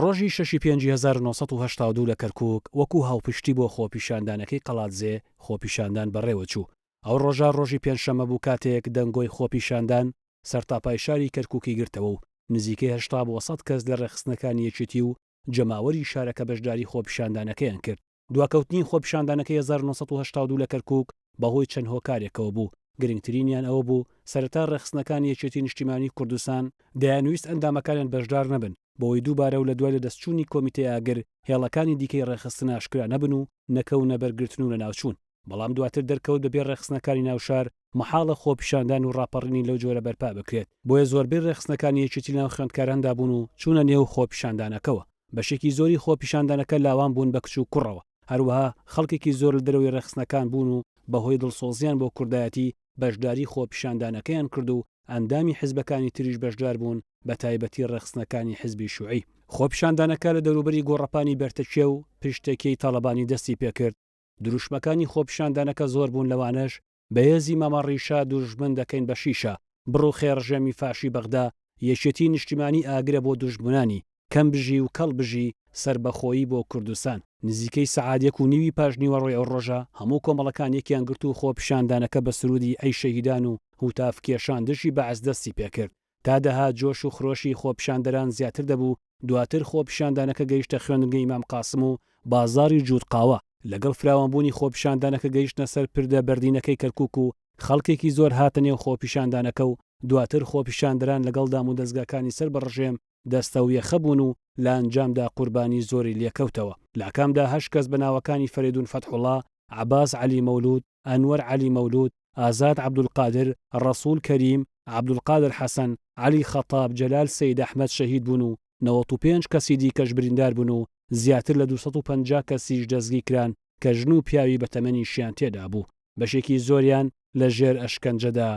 ڕۆژی شەشی پێنجی هەزار و نۆ سەد و هەشتا و دوو لە کەرکووک وەکوو هاوپشتی بۆ خۆپیشاندانەکەی قەڵادزێ خۆپیشاندان بەڕێوە چوو. ئەو ڕۆژە ڕۆژی پێنجشەممە بوو کاتێک دەنگۆی خۆپیشاندان سەرتاپای شاری کەرکووکی گرتەوە و نزیکەی هەشتا بۆ سەد کەس لە ڕێکخستنەکانی یەکێتی و جەماوەری شارەکە بەشداری خۆپیشاندانەکەیان کرد. دواکەوتنی خۆپیشاندانەکەی هەزار و نۆ سەد و هەشتا و دوو لە کەرکووک بەهۆی چەند هۆکارێکەوە بوو، گرنگترینیان ئەوە بوو سەرەتا ڕێکخستنەکانی یەکێتی نیشتیمانی کوردستان دەیانویست ئەندامەکانیان بەشدار نەبن بەوەی دووبارە و لە دوای لەدەستچوونی کۆمیتەی ئاگر هێڵەکانی دیکەی ڕێکخستن ئاشکرا نەبن و نەکەونە بەر گرتن و لەناوچوون. بەڵام دواتر دەرکەوت بە بێ ڕێکخستنەکانی ناو شار مەحاڵە خۆپیشاندان و ڕاپەڕینی لەو جۆرە بەرپا بکرێت، بۆیە زۆربەی ڕێکخستنەکانی یەکێتی لەناو خوێندکاراندا بوون و چوونە نێو خۆپیشاندانەکەوە، بەشێکی زۆری خۆپیشاندانەکە لاوان بوون بە کچ و کوڕەوە، هەروەها خەڵکێکی زۆر لە دەرەوەی ڕێکخستنەکان بوون و بەهۆی دڵسۆزییان بۆ کوردایەتی بەشداری خۆپیشاندانەکەیان کرد و ئەندامی حزبەکانی تریش بەشدار بوون بە تایبەتی ڕێکخستنەکانی حزبی شوعی. خۆپیشاندانەکە لە دەوروبەری گۆڕەپانی بەرتەکیە و پشتەکیی تاڵەبانی دەستی پێکرد، دروشمەکانی خۆپیشاندانەکە زۆر بوون لەوانەش، بەهێزی مامە ڕیشە دوژمن دەکەین بە شیشە، بڕوخێ ڕژێمی فاشی بەغدا، یەکێتی نیشتیمانی ئاگرە بۆ دوژمنانی، کەم بژی و کەڵ بژی، سەربەخۆیی بۆ کوردستان. نزیکەی سەعات یەک و نیوی پاش نیوەڕۆی ئەو ڕۆژە هەموو کۆمەڵەکان یەکیان گرت و خۆپیشاندانەکە بە سروودی ئەی شەهیدان و هوتاف کێشان دژی بەعس دەستی پێکرد. تا دەهات جۆش و خرۆشی خۆپیشاندەران زیاتر دەبوو، دواتر خۆپیشاندانەکە گەیشتە خوێندنگەی مام قاسم و بازاڕی جووت قاوە، لەگەڵ فراوانبوونی خۆپیشاندانەکە گەیشتنە سەر پردە بەردینەکەی کەرکووک و خەڵکێکی زۆر هاتە نێو خۆپیشاندانەکە و دواتر خۆپیشاندەران لەگەڵ دامودەزگاکانی سەر بە ڕژێم دەستەویەخە بوون و لە ئەنجامدا قوربانی زۆری لێکەوتەوە لەکامدا هەشت کەس بە ناوەکانی فەرێدوون فەتحوڵا، عەباس عەلی مەولوود، ئەنوەر عەلی مەولوود، ئازاد عەبدولقادر، ڕەسوڵ کەریم، عەبدولقادر حەسەن، عەلی خەتاب، جەلال سەید ئەحمەد شەهید بوون و نەوەد و پێنج کەسی دیکەش بریندار بوون و زیاتر لە دوو سەد و پەنجا کەسیش دەستگیر کران کە ژن و پیاوی بە تەمەنیشیان تێدا بوو بەشێکی زۆریان لە ژێر ئەشکەنجەدا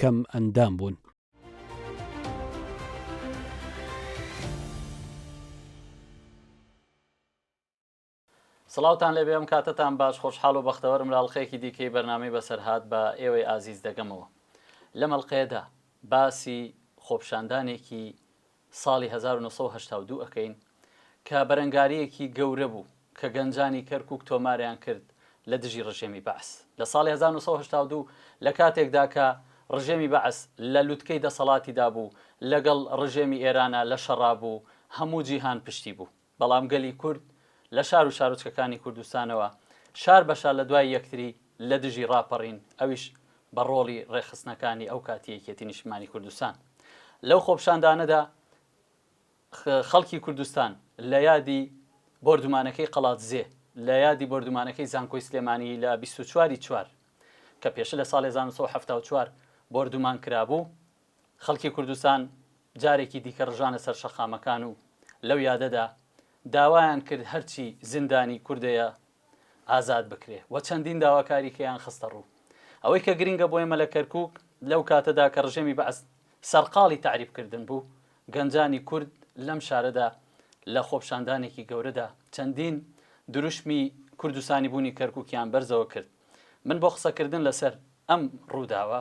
کەم ئەندام بوون. سڵاوتان لێبێ ئەم کاتەتان باش خۆشحاڵ و بەختەوەرم لە ئەڵقەیەکی دیکەی بەرنامەی بەسەرهات بە ئێوەی ئازیز دەگەمەوە لەم ئەڵقەیەدا باسی خۆپشاندانێکی ساڵی 1982 ئەکەین کە بەرەنگاریەکی گەورە بوو کە گەنجانی کەرکک تۆماریان کرد لە دژی ڕژێمی بەعس لە ساڵی 1992 لە کاتێکدا کە ڕژێمی بەعس لە لوتکەی دەسەڵاتیدا بوو لەگەڵ ڕژێمی ئێرانە لە شەڕا بوو هەموو جیهان پشتی بوو بەڵام گەلی کورد لە شار و شارۆچکەکانی کوردستانەوە شار بە شار لە دوای یەکتری لە دژی ڕاپەڕین، ئەویش بە ڕۆڵی ڕێکخستنەکانی ئەو کاتی یەکێتی نیشتمانی کوردستان. لەو خۆپشاندانەدا خەڵکی کوردستان لە یادی بۆردومانەکەی قەڵادزێ، لە یادی بۆردومانەکەی زانکۆی سلێمانی لە بیست و چوار ی چوار کە پێشە لە ساڵێ هەزار و نۆ سەد و حەفتا و چوار بۆردومان کرابوو، خەڵکی کوردستان جارێکی دیکە ڕژانە سەر شەقامەکان و لەو یادەدا داوایان کرد هەرچی زیندانی کوردەیە ئازاد بکرێ و چەندین داواکاریکەیان خستە ڕوو. ئەوەی کە گرینگە بۆ ئێمە لە کەرکووک لەو کاتەدا کە ڕژێمی بەعس سەرقاڵی تەعریب کردن بوو، گەنجانی کورد لەم شارەدا لە خۆپشاندانێکی گەورەدا چەندین دروشمی کوردستانیبوونی کەرکووکیان بەرزەوە کرد. من بۆ قسەکردن لەسەر ئەم ڕووداوە،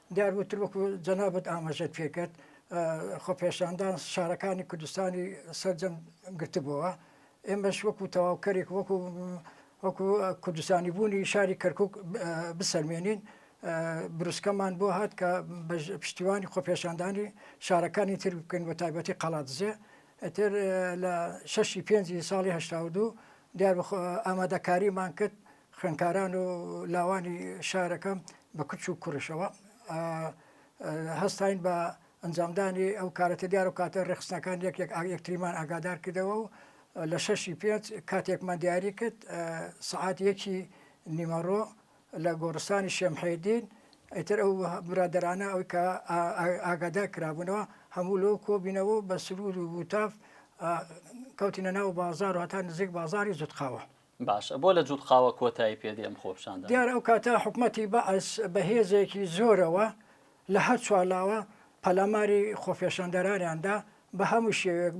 دیار وتر وەکو جەنابت ئاماژەت پێکرد خۆپێشاندان شارەکانی کوردستانی سەرجەم گرتبووەوە ئێمەش وەکو تەواوکەرێک وەکو وەکو کوردستانی بوونی شاری کەرکک بسەلمێنین بروسکەمان بۆ هات کە پشتیوانی خۆپێشاندانی شارەکانی تر بکەین بە تایبەتی قەڵاتزێ ئەتر لە شەشی پێنجی ساڵی هەشتا دوو دیار ئامادەکاریمان کرد خوێندکاران و لاوانی شارەکە بە کچ و کوڕیشەوە هەستاین بە ئەنجامدانی ئەو کارەتە دیار و کاتە ڕێخستنەکان یەک یەک یەکتریمان ئاگادار کردەوە و لە شەشی پێنج کاتێکمان دیاری کرد سعات یەکی نیمەڕۆ لە گۆڕستانی شێمحێدین ئەتر ئەو برادرانە ئەوی کە ئاگادا کرابوونەوە هەموو لۆ کۆبینەوە بە سرود و وتاف کەوتینە ناو بازار و هەتا نزیک بازاری زودقاوە باشە بۆ لە جوت قاوە کۆتایی پێدێ ئەم خۆپشاندانە؟ دیارە ئەو کاتە حکومەتی بەعس بە هێزێکی زۆرەوە لە هەر چوار لاوە پەلاماری خۆپێشاندەرانیان دا بە هەموو شێوەیەک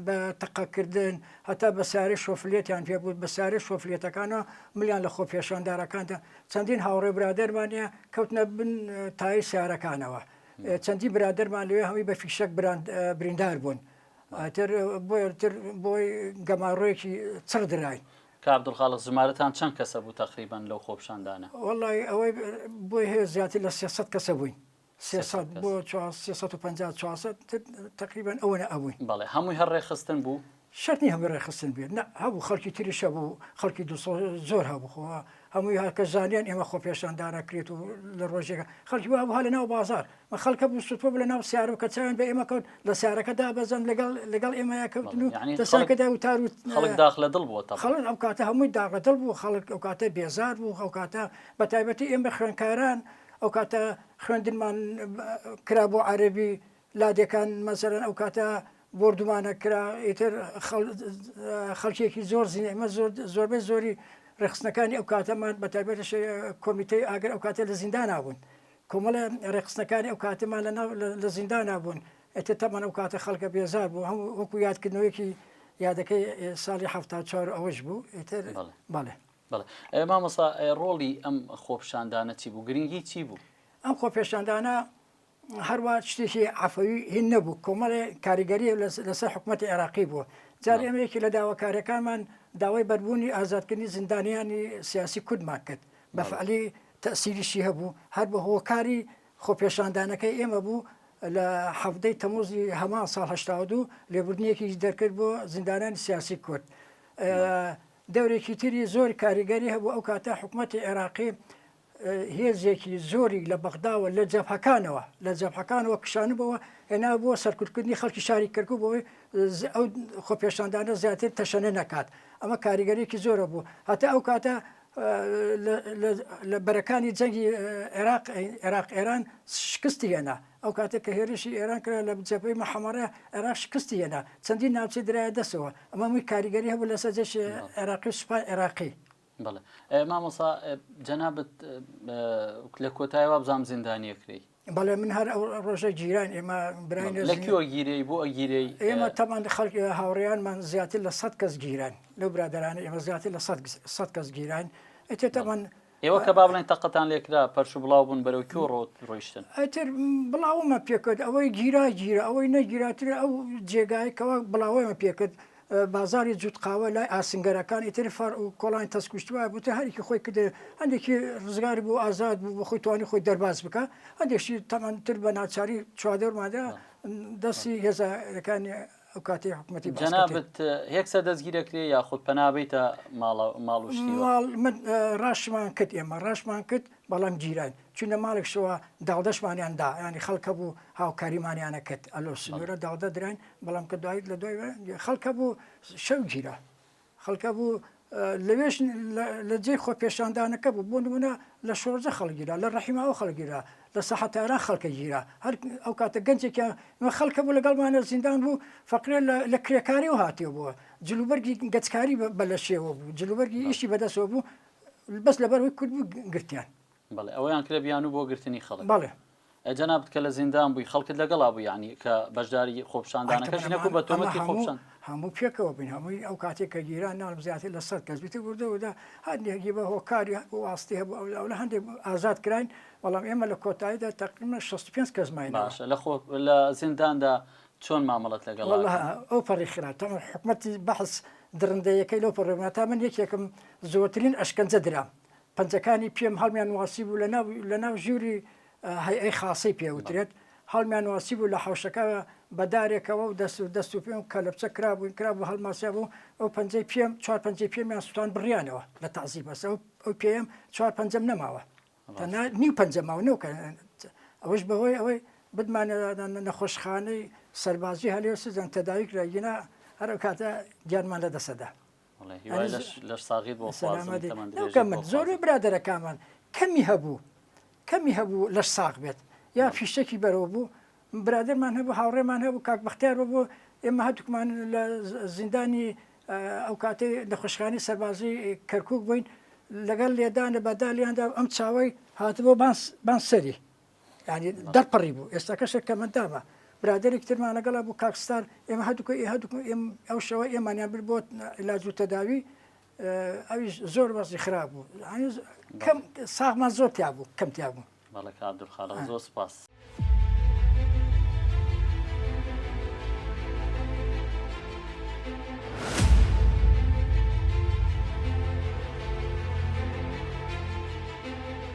بە تەقە کردن هەتا بە سارێ شۆفلێتیان پێ بوو بە سارێ شۆفلێتەکانەوە ملیان لە خۆپێشاندارەکاندا چەندین هاوڕێ برادەرمان نیە کەوتنە بن تای سارەکانەوە چەندی برادەرمان لەوێ هەمووی بە فیشەک بریندار بوون ئیتر بۆیە تر بۆی گەماڕۆیەکی چڕ دراین. کاک عبدالخالق ژمارەتان چەند کەسە بوو تەقریبەن لەو خۆپیشاندانە؟ وەڵڵاهی ئەوەی بۆی هەیە زیاتر لە سێ سەد کەسە بووین. سێ سەد سێ سەد بۆ کەس. چوار سێ سەد و پەنجا چوار سەد تر تەقریبەن ئەوەنە ئەبووین. بەڵێ هەمووی هەر ڕێکخستن بوو؟ شەرت نییە هەمووی ڕێکخستن بێت نا، هەبوو خەڵکی تریش هەبوو، خەڵکی دڵسۆز زۆر هەبوو خۆ هەمووی هەر کەس زانیان ئێمە خۆپێشاندان ئەکرێت و لە ڕۆژێکە خەڵکی وا بوو هەر لەناو بازاڕ و خەڵکە بوو سوتبوو لە ناو سیارو کە چاوێن بە ئێمە کەوت لە سیارەکە دابەزن لەگەڵ لەگەڵ ئێمەیا کەوتن و دەسەکەدا وتار و خەڵک داخ لە دڵ بووە خەڵک ئەو کاتە هەمووی داخ لە دڵ بوو خەڵک ئەو کاتە بێزار بوو ئەو کاتە بە تایبەتی ئێمە خوێنکاران ئەو کاتە خوێندنمان کرا بۆ عەرەبی لادێکان مەسەرەن ئەو کاتە بردومانە کرا ئیتر خەڵکێکی زۆر زیین ئمە زۆر زۆربەی زۆری ڕێخستنەکانی ئەو کاتەمان بە تایبەت کۆمیتەی ئاگر ئەو کاتە لە زیندانابوون کۆمەڵە ڕێکخستنەکانی ئەو کاتەمان لەناو لە زیندانا بوون ئێتە تەمەەن ئەو کاتە خەڵکە بێزار بوو هەموو وەکو یادکردنەوەیەکی یادەکەی ساڵی ه چوار ئەوەش بوو ئێتر بەڵێ بەڵێ مامەسا ڕۆڵی ئەم خۆپشاندانە چی بوو گرنگی چی بوو ئەم خۆپێشاندانە هەروە شتێکی عفەوی هین نەبوو کۆمەڵێ کاریگەری لەسەر حکوومەت عێراقی بووە جار ئێمەیەکی لە داواکارەکانمان داوای بەربوونی ئازادکردنی زیندانیانی سیاسی کوردمان کرد بەفعلی تەئسیریشی هەبوو، هەر بە هۆکاری خۆپێشاندانەکەی ئێمە بوو لە حەڤدەی تەموزی هەمان ساڵ هەشتا و دوو لێبوردنێکیش دەرکرد بۆ زیندانانی سیاسی کورد. دەورێکی تری زۆر کاریگەری هەبوو ئەو کاتە حکومەتی عێراقی هێزێکی زۆری لە بەغداوە لە جەبهەکانەوە لە جەبهەکانەوە کشانبەوە هێنابووە سەرکوتکردنی خەڵکی شاری کەرکوک بۆی ئەو خۆپێشاندانە زیاتر تەشەنە نەکات ئەمە کاریگەرێکی زۆرە بوو هەتا ئەو کاتە لە بەرەکانی جەنگی عێراق عێراق ئێران شکستی هێنا ئەو کاتێک کە هێرشی ئێران کرا لە جەپەی مەحەمەڕێ عێراق شکستی هێنا چەندین ناوچەی درایە دەسەوە ئەمە مووی کاریگەری هەبوو لەسەر جەش عێراقی و سوپای عێراقی بەڵێ مامۆسا جەنابەت لە کۆتایەوە بزانام زیندانیەکرێی بەڵێ من هەر ئەو ڕۆژە گیران ئێمە برای گیرەی بۆ ئەگیرەی ئێمە تەمان خەڵک هاوڕیانمان زیاتر لە سە کەس گیران لەو برادرانە ئێمە زیاتر لە سە کەس گیران ئەتێ تەمان ئێوە کە با بڵێن تەقەتان لێکرا پەرش و بڵاو بوون بەرەو کۆ ڕۆت ڕۆیشتن ئەتر بڵاومە پێکرد ئەوەی گیرا گیرە ئەوەی نەگیراتر ئەو جێگایکەوە بڵاوەمە پێکرد بازاڕی جووت قاوە لای ئاسنگەرەکانی تر فەڕعو کۆڵانی تەسکوشت وایە بووتە هەرێکی خۆی کردە هەندێکی ڕزگار بوو ئازاد بوو بە خۆی توانی خۆی دەرباز بکە هەندێکشی تەمان تر بە ناچاری چوادۆرمادا دەستی هێزەکانی ئەو کاتی حکوومەتی جەنابت هێکسە دەستگیرەکرێ یاخود پەنابیتە ماڵە ماڵوشتی من ڕاشمان کرد ئێمە ڕاشمان کرد بەڵام گیران چونە ماڵێک شەوە داڵدەشمانیاندا ینی خەڵکە بوو هاوکاریمانیانە کرد ئەلۆ سنوورە داڵدە دران بەڵام کە دوای لە دوای خەڵکە بوو شەو گیرا خەڵکە بوو لەوێش لە جێ خۆ پێشاندانەکە بوو بۆ نمونە لە شۆرجە خەڵگیرا لە ڕحیماوە خەڵگیرا لە سەحتاران خەڵکە گیرا هەر ئەو کاتە گەنجێکیان خەڵکە بوو لەگەڵمانە زیندان بوو فەقرێ لە کرێکاری و هاتیێ بووە جلوبەرگی گەچکاری بە لە شێوە بوو جلوبەرگی ئیشی بەدەسەوە بوو بەس لەبەر وەی کورد بوو گرتیان بەڵێ ئەوەیان کرێ بیانوو بۆ گرتنی خەڵک بەڵێ جەنابت کە لە زیندان بووی خەڵکت لەگەڵا بوو یعنی کە بەشداری خۆپشاندانەکەش نەکو بە تۆمەتی خۆپشان هەموو پێکەوە بین هەمووی ئەو کاتێک کە گیران ناڵم زیاتر لە سەد کەس بیتە بردەوەدا هەندێکی بە هۆکاری واستی هەبوو ئەو لە هەندێک ئازاد کراین بەڵام ئێمە لە کۆتاییدا تقریمە 65 کەس ماین باشە لە خۆ لە زینداندا چۆن مامەڵەت لەگەڵ ئەو پەڕی خراپ تەمە حکومەتی بەحس درندەیەکەی لەو پڕێمە تا من یەکێکم زۆرترین ئەشکەنجە درام پەنجەکانی پێم هەڵمیان نواسیبوو لە ناو لە ناو ژووری هەیئەی خاسەی پێ وترێت هەڵمیان نواسیبوو لە حەوشەکە بە دارێکەوە و دەست و دەست و پێم و کەلەپچە کرابووین کرابوو هەڵماسیابوو ئەو پەنجەی پێم چوار پەنجەی پێمیان سووتان بڕیانەوە لە تەعزیب بەس ئەو ئەو پێم چوار پەنجەم نەماوە تەنها نیو پەنجە ماوە نەو کە ئەوەش بەهۆی ئەوەی بدمانە نەخۆشخانەی سەربازی هەلێوسزان تەداوی کرا گینا هەر ئەو کاتە گیانمان لە دەسەدا زۆر برادەرەکانمان کەمی هەبوو کەمی هەبوو لەش ساغ بێت یا فیشتێکی بەرەوە بوو برادرمان هەبوو هاوڕێمان هەبوو کاک بەختیار بۆ ئێمە هەتوکمان لە زیندانی ئەو کاتی نەخۆشخانی سەربازی کەرکک بووین لەگەڵ لێدانە بەدالیاندا ئەم چاوی هاتبوو بانسەری ینی دەرپەڕی بوو ئێستا کەسێک کە مندامە برادێک ترمان لەگەڵا بوو کاکستان ئێمە هەدوکە ئێ هەدوک ئەو شەوە ئێمانیان بر بۆ علاج و تەداوی ئەوی زۆر وەزی خراپ بوو کەم ساغمان زۆر تیا بوو کەم تیا بوو بەڵێک عبدخاڵ زۆر سپاس.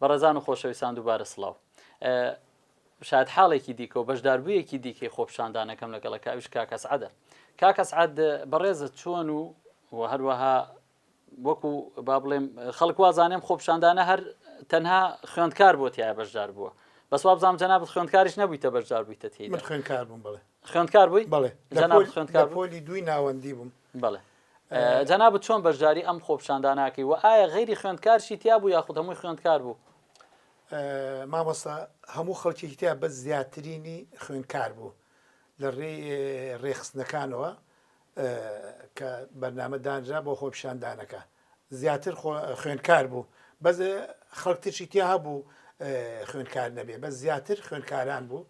بەڕێزان و خۆشەویستان دووبارە سڵاو شاید حاڵێکی دیکە و بەشداربوویەکی دیکەی خۆپشاندانەکەم لەگەڵە کاویش کاکەسعادە کاکەسعاد بەڕێزت چۆن و و هەروەها وەکو با بڵێم خەڵک وازانێم خۆپشاندانە هەر تەنها خوێندکار بۆ تایە بەشدار بووە بەس وابزانام جەنابەت خوێندکاریش نەبوویتە بەشدار بوویتە تێی من خوێندکار بووم بڵێ خوێندکار بووی بڵێ جەناب خوێندکار پۆلی دووی ناوەندی بووم بڵێ جەنابەت چۆن بەشداری ئەم خۆپشانداناکەی و ئایا غیری خوێندکارشی تیا بوو یاخود هەمووی خوێندکار بوو مامۆستا هەموو خەڵکیی تیا بە زیاترینی خوێندکار بوو لە ڕێ ڕێخستنەکانەوە کە بەرنامە دانرا بۆ خۆپیشاندانەکە زیاتر خوێندکار بوو بەس خەڵک ترشی تیا هەبوو خوێندکار نەبێ بە زیاتر خوێندکاران بوو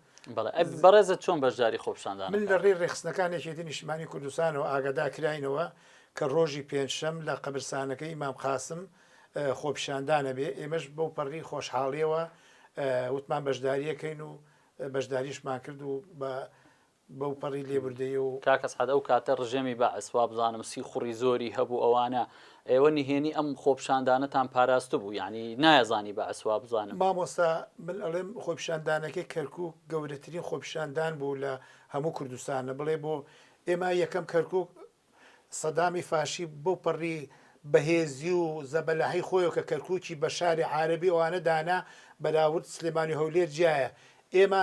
بەڕێزە چۆن بەشداری خۆپشاندان من لە ڕێ ڕێخستنەکانی شێتی نیشتمانی کوردستانەوە ئاگادا کراینەوە کە ڕۆژی پێنجشەم لە قەبرسانەکەی مام قاسم خۆپیشاندانە بێ ئێمەش بۆ پەڕی خۆشحاڵیەوە وتمان بەشداریەکەین و بەشداریشمان کرد و بە بەوپەڕی لێبوردەیی و. کاک ئەسعەد ئەو کاتە ڕژێمی بەعس وابزانم سیخوڕی زۆری هەبوو ئەوانە ئێوە نهێنی ئەم خۆپیشاندانەتان پاراستبوو یانی نایەزانی بەعس وابزانم. مامۆستا من ئەڵێم خۆپیشاندانەکەی کەرکوک گەورەترین خۆپیشاندان بوو لە هەموو کوردستانە بڵێ بۆ؟ ئێمە یەکەم کەرکوک سەدامی فاشی بەو پەڕی بەهێزی و زەبەلاحی خۆیەوە کە کەرکوکی بە شاری عارەبی ئەوانە دانا بەراورد سلێمانی و هەولێر جیایە ئێمە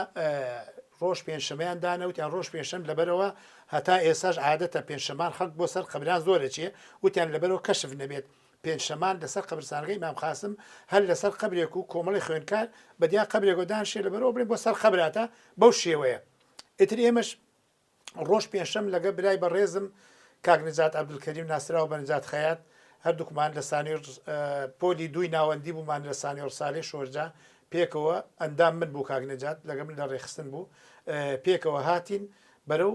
ڕۆژ پێنجشەمەیان دانەوتیان ڕۆژ پێنجشەم لەبەرەوە هەتا ئێساش عادەتە پێنجشەمان خەڵک بۆ سەر قەبران زۆر دەچێ وتیان لەبەرەوە کەشف نەبێت پێنجشەمان لەسەر قەبرستانەکە ئیمام قاسم هەر لەسەر قەبرێک و کۆمەڵی خوێندکار بەدیان قەبرێکەوە دانشێ لەبەرەوە بڵێن بۆ سەر قەبراتە بەو شێوەیە ئیتر ئێمەش ڕۆژ پێنجشەم لەگە برای بەڕێزم کاک نجات عبدالکریم ناسراو بە نجات خەیات هەردووکمان لە سانی پۆلی دووی ناوەندی بوومان لە سانی ڕسالی شۆرجە پێکەوە ئەندام من بوو کاک نجات لەگە من لە ڕێخستن بوو پێکەوە هاتین بەرەو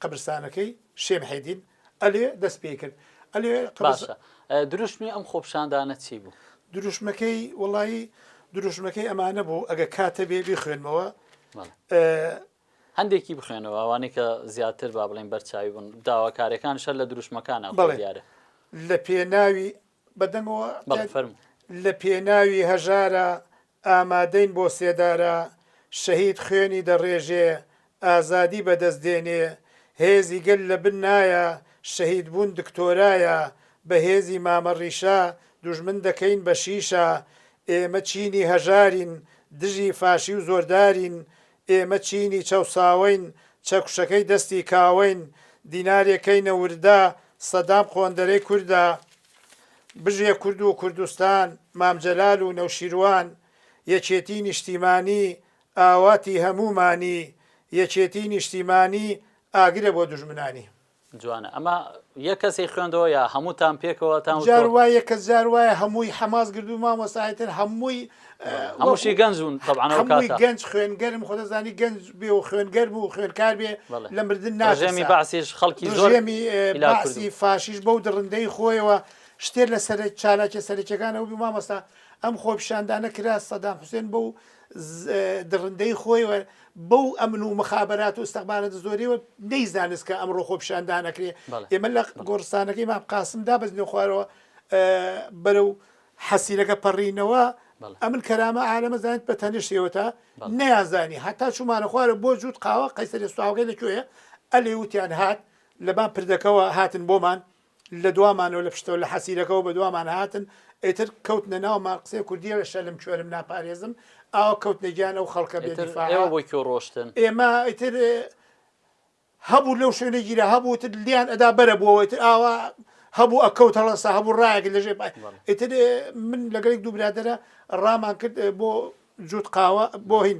قبرستانەکەی شێم حێدین ئەلێ دەست پێ کرد ئەلێ باشە دروشمی ئەم خۆپشاندانە چی بوو دروشمەکەی وڵایی دروشمەکەی ئەمانە بوو ئەگە کاتە بێ بخوێنمەوە هەندێکی بخوێنەوە ئەوانەی کە زیاتر با بڵێن بەرچاوی بوون داواکاریەکانش هەر لە دروشمەکانە خۆی بەڵێ دیارە. لە پێناوی، بە دەنگەوە بەڵێ تاد، فەرموو. لە پێناوی هەژارا ئامادەین بۆ سێدارە، شەهید خوێنی دەڕێژێ، ئازادی بەدەست دێنێ، هێزی گەل لە بن نایە، شەهیدبوون دکتۆرایە، بە هێزی مامە ڕیشە، دوژمن دەکەین بە شیشە، ئێمە چینی هەژارین، دژی فاشی و زۆردارین، ئێمە چینی چەوساوەین، چەکوشەکەی دەستی کاوەین، دینارێ کەینە وردە، سەدام قۆندەرەی کوردە. بژێ کورد و کوردستان، مام جەلال و نەوشیروان، یەکێتی نیشتیمانی، ئاواتی هەموومانی، یەکێتی نیشتیمانی، ئاگرە بۆ دوژمنانی. جوانە ئەمە یە کەسی خوێندەوە یا هەمووتان پێکەوە تا جار وایە کە جار وایە هەمووی حەماس گردو مامۆساایتر هەمووی هەمووشی گەنجون هەمووی گەنج خوێنگەرم خۆدەزانی گەنج بێ و خوێنگەر بوو خوێنکار بێ لە مردن ناژێمی باسیش خەڵکی زۆرێمی لاسی فاشیش بەو دڕندەی خۆیەوە شتێ لە سەر چالاکە سەرکیەکانەوە بی مامۆستا ئەم خۆپشاندانە کرا سەدام حوسێن بە و دڕندەی خۆی و بەو ئەمن و مخابرات و ئستەخبارەت زۆریەوە نەی زانست کە ئەمڕۆ خۆپشاندان ئەکرێ ئێمە لە گۆڕستانەکەی مام قاسم دا بەزنی خوارەوە بەرە و حەسیرەکە پەڕینەوە ئەمن کەرامە عالەمە زانیت بە تەنیشتەوە تا نیازانی هەتا چومانە خوارە بۆ جووت قاوە قەیسەری سواوەکەی لەکوێ ئەلێ وتیان هات لەبان پردەکەەوە هاتن بۆمان لە دوامانەوە لە پشتەوە لە حەسیرەکەوە بە دوامان هاتن ئیتر کەوتنە ناومان قسەی کوردیەرە شەلم کوێرم ناپارێزم ئاوا کەوتنە گیان ئەو خەڵکە بێ ئیتر دیفاعە ئێوە بۆ کوێ ڕۆشتن ئێمە ئیتر هەبوو لەو شوێنە گیرا هەبوو تر لیان ئەدا بەرە بووەوە ئیتر ئاوا هەبوو ئەکەوت هەڵەسا هەبوو ڕایەک لە ژێ پای بەڵێ. ئیتر من لەگەڵ دوو برادەرە ڕامان کرد بۆ جووت قاوە بۆ هین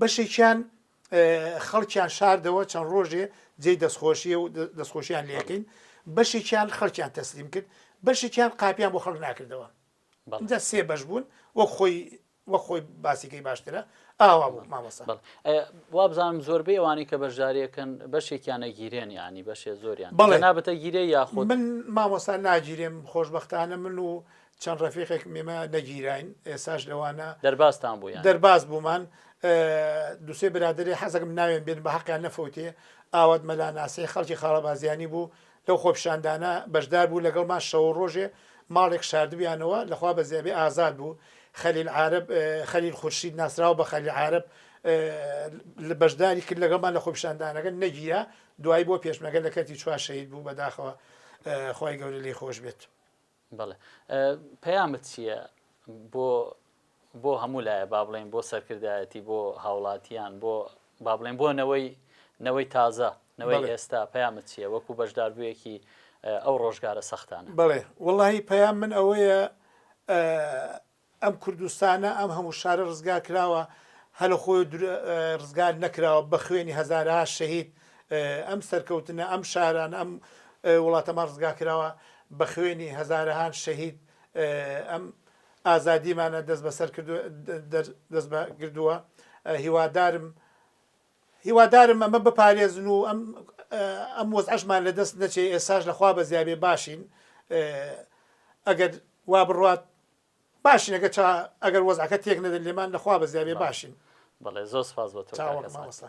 بەشێکیان خەڵکیان شاردەوە چەند ڕۆژێ جێی دەستخۆشیە و دەستخۆشیان لەکەین بەشێکیان خەڵکیان تەسلیم کرد بەشێکیان قاپیان بۆ خەڵک ناکردەوە بەڵجا سێ بەش بوون وەک خۆی وە خۆی باسیکەی باشترە ئاوا بوو مامەسە وابزانم زۆربەی ئەوانی کە بەشدارەکەن بەشێکیانە گیرێن ینی بەشێ زۆریان بەڵێ نابەتە گیرێ یاخود من مامۆستا ناگیرێم خۆشببختانە من و چەند ڕەفیقێکم ئێمە نەگیراین ئێساش لەوانە دەربازتان بوو یان؟ دەرباز بوومان دوسێ برادری حەزەکەم ناوێن بێن بە حەقیان نەفەوتێ ئاوات مەلا ناسێ خەڵکی خاڵەبازیانی بوو لەو خۆپیشاندانە بەشدار بوو لەگەڵمان شەو و ڕۆژێ ماڵێک شاردبیانەوە لەخوا بە زیابێ ئازاد بوو خەلیل عارب خەلیل خورشید ناسراوە بە خەلیل عارب لە بەشداری کرد لەگەڵمان لە خۆپیشاندانەکە نەگیرا دوای بۆ پێشمەگە لە کەرتی چوار شەهید بوو بەداخەوە خی گەورە لی خۆش بێت بەڵێ پەیامت چیە بۆ بۆ هەموو لایە با بڵێن بۆ سەرکردایەتی بۆ هاوڵاتیان بۆ با بڵێن بۆ نەوەی نەوەی تازە نەوەی ئێستا پەیامت چیە وەکو بەشداربوویەکی ئەو ڕۆژگارە سەختانە بڵێ وڵی پەیام من ئەوەیە ئەم کوردستانە ئەم هەموو شارە ڕزگار کراوە هەر لە خۆیەوە دور ڕزگار نەکراوە بە خوێنی هەزارەها شەهید ئەم سەرکەوتنە ئەم شارانە ئەم وڵاتەمان ڕزگار کراوە بە خوێنی هەزارەهان شەهید ئەم ئازادیمانە دەست بەسەر کردوە دەست بە گردووە هیوادارم هیوادارم ئەمە بپارێزن و ئەم ئەم وەزعشمان لە دەست نەچێ ئێساش لە خوا بەزیابێ باشین ئەگەر وا بڕوات باشین ئەگەر چا ئەگەر وەزعەکە تێک نەدەن لێمان لە خوا بەزیابێ باشین. بەڵێ زۆر سپاس بۆ تۆ کاکە چاوەڕێم سامان. مامۆستا.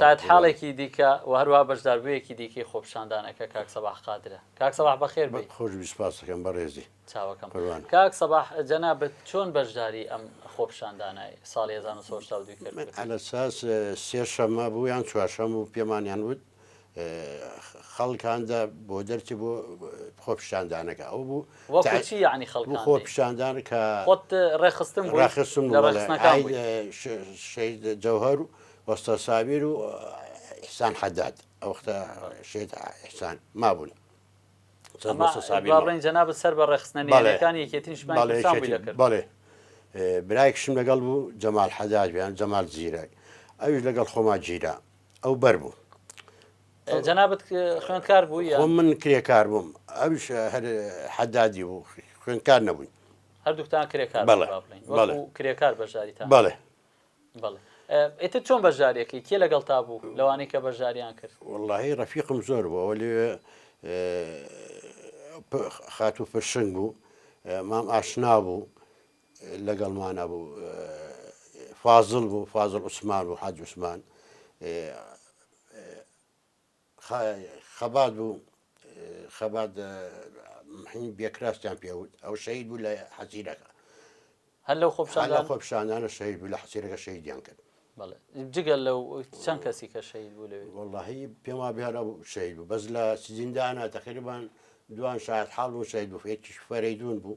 شایەت حاڵێکی دیکە و هەروەها بەشداربوویەکی دیکەی خۆپیشاندانەکە کاک سەباح قادرە. کاک سەباح بەخێر بێی. خۆشبی سپاستەکەم بەڕێزی. چاوەکەم. قوربان. کاک سەباح جەنابت چۆن بەشداری ئەم خۆپیشاندانای ساڵی هەزار و نۆ سەد و هەشتا و دوو کرد؟ من عەلەساس سێشەممە بوو یان چوارشەممە بوو پێمانیان وت خەڵکاندا بۆ دەرچی بۆ خۆ پیشاندانەکە ئەو بوو وەچی یعنی خەڵ خۆ پیشاندان کە خۆت ڕێخستم ڕاخستم شید جەوهر و وەستا ساویر و ئحسان حداد ئەوختە شێت ئحسان مابوون بڵێن جەناب سەر بە ڕێخستنەکانی یەکێتیش بڵێ برایکشم لەگەڵ بوو جەمال حداد بیان جەمال زیرەک ئەوش لەگەڵ خۆما گیرە ئەو بەر بوو جەنابەت خوێندکار بوو یا خۆ من کرێکار بووم ئەوش هەر حەدادی بوو خوێندکار نەبووین هەردووکتان کرێکار بەڵێ، بابلین بەڵێ. وەکو کرێکار بەشداریتان بەڵێ بەڵێ ئێتر چۆن بەشدارێکی کێ لەگەڵ تا بوو لەوانەی کە بەشداریان کرد واللهی ڕەفیقم زۆر بوو ئەوە لێ خاتوو پرشنگ بوو مام ئاشنا بوو لەگەڵمانا بوو فازڵ بوو فازڵ عوسمان بوو حاج عوسمان خەبات بوو خەبات بێکراستیان پێوت ئەو شەید بوو لە حەزیرەکە هەر لەو خۆپشاندا خۆپشانانە شەید بوو لە حەسیرەکە شەیدیان کرد جگە لەو چەند کەسی کە شەید بوو لەوێ وڵی پێما بێرە بوو شەید بوو بەس لە سزیندانە تقریبان دوان شاید حاڵ و شەید بوو فێکیش فەرەیدون بوو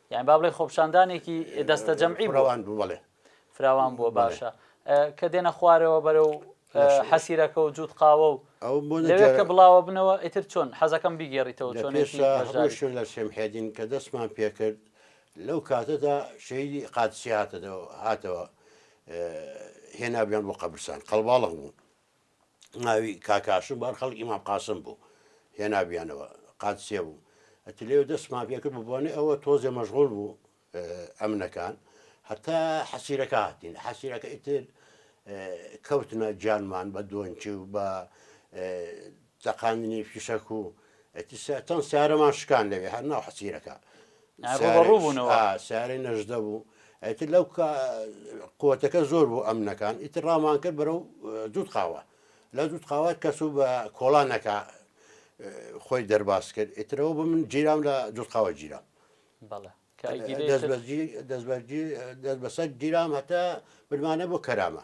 یان با بڵێ خۆپشاندانێکی دەستە جەمعی بڕەوان بوو بڵێ فراوان بووە باشە کە دێنە خوارەوە بەرە و حەسیرەکە و جووت قاوە و ئەو کە بڵاوە بنەوە ئیتر چۆن حەزەکەم بیگێڕیتەوە چۆن شوێن لە شێمحێدین کە دەستمان پێکرد لەو کاتەدا شەیدی قادسی هاتەوە هاتەوە هێنابیان بۆ قەبرسان قەڵباڵغ بوو ناوی کاک هاشم بوو هەر خەڵکی مام قاسم بوو هێنابیانەوە قادسیە بوو ئەتی لێو دەستمان پێکرد بە بۆنێ ئەوە تۆزێ مەژغۆل بوو ئەمنەکان هەتا حەسیرەکە هاتین حەسیرەکە ئیتر کەوتنە جانمان بە دۆنچی و بە تەقاندنی فیشەک و ئەتی ساتەن سیارەمان شکان لەوێ هەر ناو حەسیرەکە سیارەی نەژدە بوو ئەیتر لەو قوتەکە زۆر بوو ئەمنەکان ئیتر ڕامان کرد بەرە و دوود قاوە لە دوود قاوە کەس و بە کۆڵانەکە خۆی دەرباز کرد ئیترەوە بە من جیرام لە دوود قاوە جیرام دەست بەسەر گیرام هەتا بدمانە بۆ کەرامە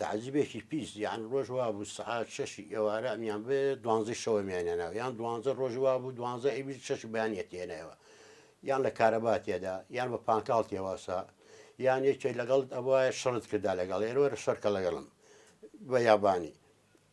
تەعجیبێکی پیس یان ڕۆژ وابوو سەعات شەشی ئێوارە ئەمیان بێ دوانزەی شەوە میانێناوە یان دوانزە ڕۆژ وابوو دوانزە ئەوی شەش بەیانەتێنەوە یان لە کارەبا تێدا یان بە پانتاڵ تێواسا یان یەکێک لەگەڵت ئەوە شڕت کردا لەگەڵ ئێرۆرە شەرکە لەگەڵم بە یابانی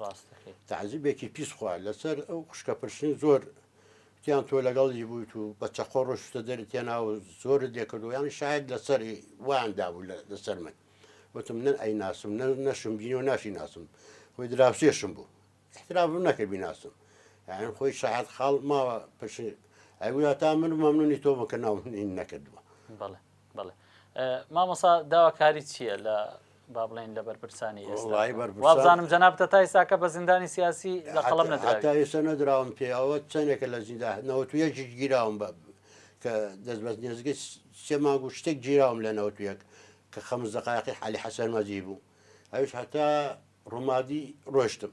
ڕاست دەکەیت. تەعزیبێکی پیس خوا لەسەر ئەو خوشکە پرشنگ زۆر تیان تۆ لەگەڵی بوویت و بە چەقۆ ڕۆشتە دەری تێنا و زۆرت لێ کردووە یانی شاید لەسەر وایان دابوو لەسەر من وتم نەن ئەی ناسم نە نەشم بینی و ناشی ناسم خۆی دراوسێشم بوو احترافم نەکرد بیناسم یان خۆی شاید خاڵ ماوە پرشن ئەگویا تا من مەمنونی تۆ بکە ناومنین نەکردووە بەڵێ بەڵێ مامەسا داواکاری چییە لە با بڵێن لە بەرپرسانی ئێستا وەڵاهی بەرپرسان- وابزانم جەنابتە تا ئێستاکە بە زیندانی سیاسی لە قەڵەم هەتا- نەدراوی. هەتا ئێستا نەدراوم پێ ئەوە چەندێکە لە زیندان نەوەت و یەک گی- گیراوم بە کە دەست بەس نێزگەی س- سێ مانگ و شتێک گیراوم لە نەوەت و یەک کە خەمس دەقایقی حالی حەسەن مەزی بوو ئەویش هەتا ڕومادی ڕۆشتم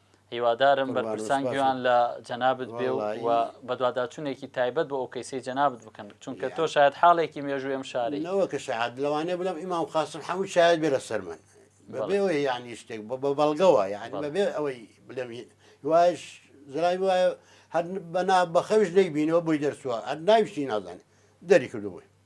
هیوادارم بەرپرسان گوێیان لە جەنابت بێ و بەدواداچوونێکی تایبەت بۆ ئەو کەیسەی جەنابت بکەن چونکە تۆ شاید حاڵێکی مێژووی ئەم شاری نەوە کە شاد لەوانێ بڵم ئیمام قاسم حەموو شاید بێ لە سەر من بەبێ ئەوەی یعنی شتێک بە بەڵگەوە یعنی بەبێ ئەوەی بلێم وایش زرای وایە هەر بەنا بەخەوش نەیبینەوە بۆی دەرچووە هەر ناویشتی نازانێت دەری کردو بووی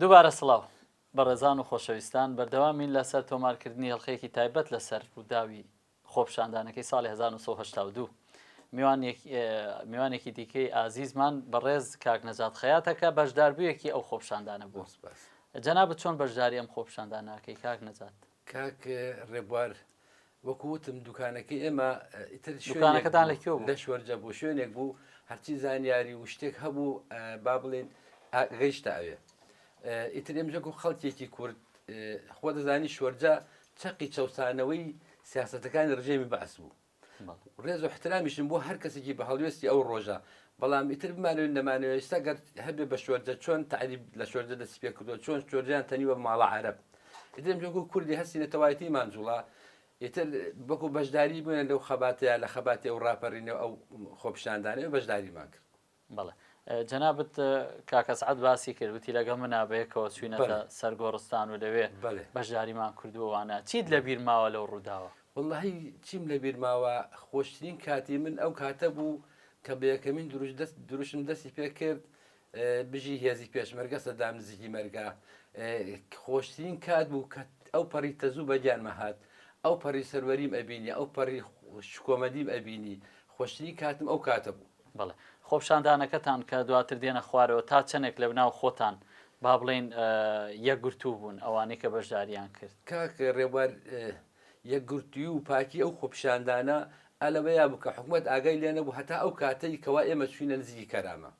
دووبارە سڵاو. بەڕێزان و خۆشەویستان، بەردەوامین لە سەر تۆمارکردنی هێڵخەیەکی تایبەت لە سەر ڕووداوی خۆپیشاندانەکەی ساڵی هەزار و نۆ سەد و هەشتا و دوو. میوانێکی دیکەی ئازیزمان بەڕێز کاک نەجات خەیاتە کە بەشداربوویەکی ئەو خۆپیشاندانە بووە. جەنابت چۆن بەشداری ئەم خۆپیشاندانە ئەکەی کاک نەجات؟ کاک ڕێبوار وەکو وتم دوکانەکەی ئێمە ئیتر شوێنەکەتان لە کوێ لە شوەرجە بوو شوێنێک بوو هەرچی زانیاری و شتێک هەبوو با بڵێن گەیشتە ئەوێ ئیتر ئێمژەک و خەڵکێکی کورد خۆ دەزانی شوەرجە چەقی چەسانەوەی سیاستەکانی ڕژێمی بەعس بوو ڕێز و احترامیشم بۆ هەر کەسێکی بە هەڵوێستی ئەو ڕۆژە بەڵام ئیتر بمانەوێت نەمانەوێت ئێستا گەر هەبێت بە شۆرجە چۆن تەعریب لە شۆرجە دەستی پێ کردووە چۆن شۆرجەیان تەنیوە بە ماڵە عەرەب ئیتر ئێمە وەکو کوردی هەستی نەتەوایەتی مانجوڵا ئیتر وەکو بەشداری بووێن لەو خەباتەیە لە خەباتی ئەو ڕاپەرینە و ئەو خۆپیشاندانەوە بەشداریمان کرد بەڵێ جەنابت کاک ئەسعەد باسی کرد وتی لەگەڵ منا بەیەکەوە چووینەتە سەر گۆڕستان و لەوێ بەشداریمان کردووە وانە چیت لە بیر ماوە لەو ڕووداوە واللهی چیم لە بیر ماوە خۆشترین کاتی من ئەو کاتە بوو کە بە یەکەمین دروش دەست دروشم دەستی پێ کرد بژی هێزی پێشمەرگە سەدام نزیکی مەرگە خۆشترین کات بوو کە ئەو پەڕی تەزوو بە گیانمە هات ئەو پەڕی سەروەریم ئەبینی ئەو پەڕی شکۆمەدیم ئەبینی خۆشترین کاتم ئەو کاتە بوو بەڵێ خۆپشاندانەکەتان کە دواتر دێنە خوارەوە تا چەنێک لەبناو خۆتان با بڵێین یەکگرتوو بوون ئەوانەی کە بەشداریان کرد؟ کاک رێبوار یەکگرتووی و پاکی ئەو خۆپیشاندانە ئا لەوەیا بوو کە حکومەت ئاگای لێ نەبوو هەتا ئەو کاتەی کەوا ئێمە چووینە نزیکی کەرامە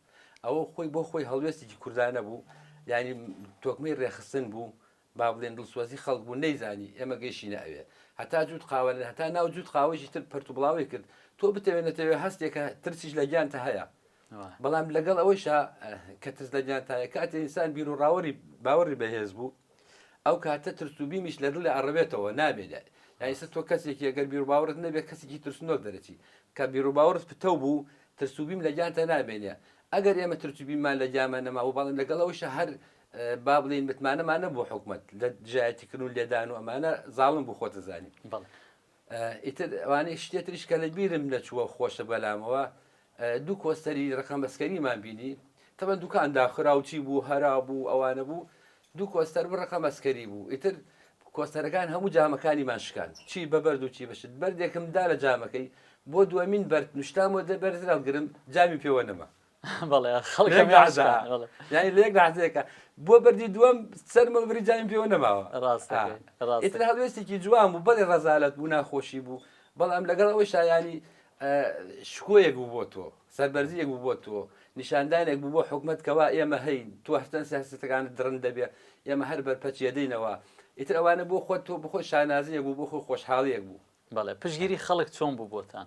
ئەوە خۆی بۆ خۆی هەڵوێستێکی کوردانە بوو یانی تۆکمەی رێکخستن بوو با بڵێن دڵسۆزی خەڵک بوو نەیزانی ئێمە گەیشینە ئەوێ هەتا جووت قاوە نەنێ هەتا ناو جووت قاوەیەکی تر پەرت و بڵاوەی کرد تۆ بتەوێ نەتەوێ هەستێکە ترسیش لە گیانتە هەیە بەڵام لەگەڵ ئەوەیشا کە ترس لە گیانتایە کاتێ ئینسان بیر و ڕاوەری باوەڕی بەهێز بوو ئەو کاتە ترس و بیمیش لە دڵی ئەڕەوێتەوە نابێت لای یایسە تۆ کەسێکی ئەگەر بیر و باوەڕت نەبێت کەسێکی ترسنۆک دەرەچی کە بیر و باوەڕت پتەو بوو ترس و بیم لە گیانتە نامێنێ ئەگەر ئێمە ترس و بیممان لە گیانمان نەمابوو بەڵام لەگەڵەوەیشە هەر با بڵێین متمانەمان نەبوو حکومت لە دژایەتیکردن و لێدان و ئەمانە زاڵم بوو خۆتە زانین ئیتر ئەوانەی شتێتریش کە لە بیرم نەچووە خۆشە بەلامەوە دوو کۆستەری ڕقم بەسکەریمان بینی تەبەن دوکان داخراوچی بوو هەرا بوو ئەوانە بوو دوو کۆستەر بڕقە مەسکەری بوو ئیتر کۆستەرەکان هەموو جامەکانی ماشکان چی بەبەرد و چی بەشت بەردێکم دا لە جامەکەی بۆ دومین بەرد نوشتامەوە دەبەرزراو گرم جامی پێوە نەما ینی لێک لازەکە بۆ بەری دووەم سەرمە بری جایم پێوە نەماوە ڕاستتر هەڵوێستێکی جوان بوو بەڵێ ڕزالت بوو ناخۆشی بوو بەڵام لەگەڵ ئەوەی شایانی شکۆیەک بوو بۆ تۆ سەربەرزیەک بوو بۆ تۆ نیشاندانێک بوو بۆ حکومت کەوا ئێمە هەین تۆ هەرچەند سیاستەکان درن دەبێ ئێمە هەر بەرپەچێدەینەوە ئیتر ئەوانە بۆ خۆت تۆ بخۆی شانازیەک بوو بۆ خۆی خۆشحاڵیەک بوو بەڵێ پشگیری خەڵک چۆن بوو بۆتان